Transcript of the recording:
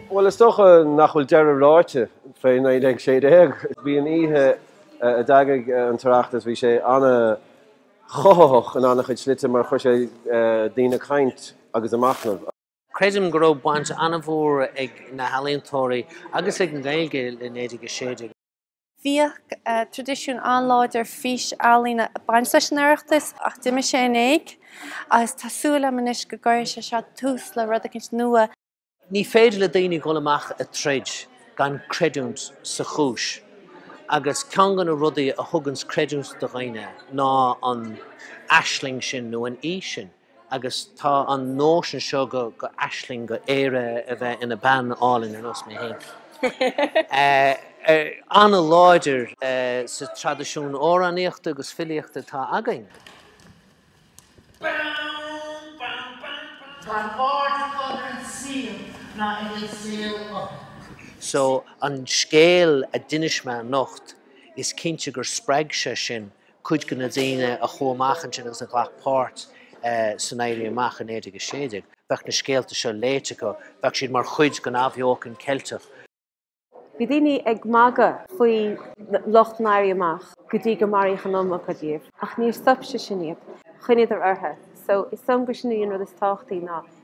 Bhuel is dócha nach bhfuil deireadh ráite fé 1916. Bhí an oíche eh, a d'eagraigh eh, an tOireachtas bhí sé ana chothaitheach in ana chuid slite mar chuir sé eh, daoine ag caint agus ag machnamh. Creidim go raibh baint an-mhór ag na healaíontóirí agus ag an nGaeilge le 1916. Bhíodh traidisiún an-láidir fís-ealaíne ag baint leis an Oireachtas ach d'imigh sé in éag agus tá súil agam anois go gcuirfidh sé seo tús le rud éicint nua. Ní féidir le daoine dhul amach ag troid gan creidiúint sa chúis agus ceann de na rudaí a thuganns creidiúint do dhaoine ná an aisling sin nó an fhís sin. agus tá an nóisean seo go aisling go Éire a bheith ina bean álainn ar nós mé féin an-láidir sa traidisiún amhránaíochta agus filíochta atá againn. So an scéal a d'inis mé anocht, is cinnte gur spreag sé sin cuid de na daoine a chuaigh amach ansin agus a ghlac páirt san Éirí Amach i 1916, bheadh na scéalta seo léite acu, bheadh siad mar chuid den athbheochan Cheilteach. Bhí daoine ag magadh faoi lucht an Éirí Amach go dtí gur maraíodh an iomarca díobh, ach níor stop sé sin iad, choinníodar orthu. So is dóigh liom gur sin í an rud is tábhachtaí ná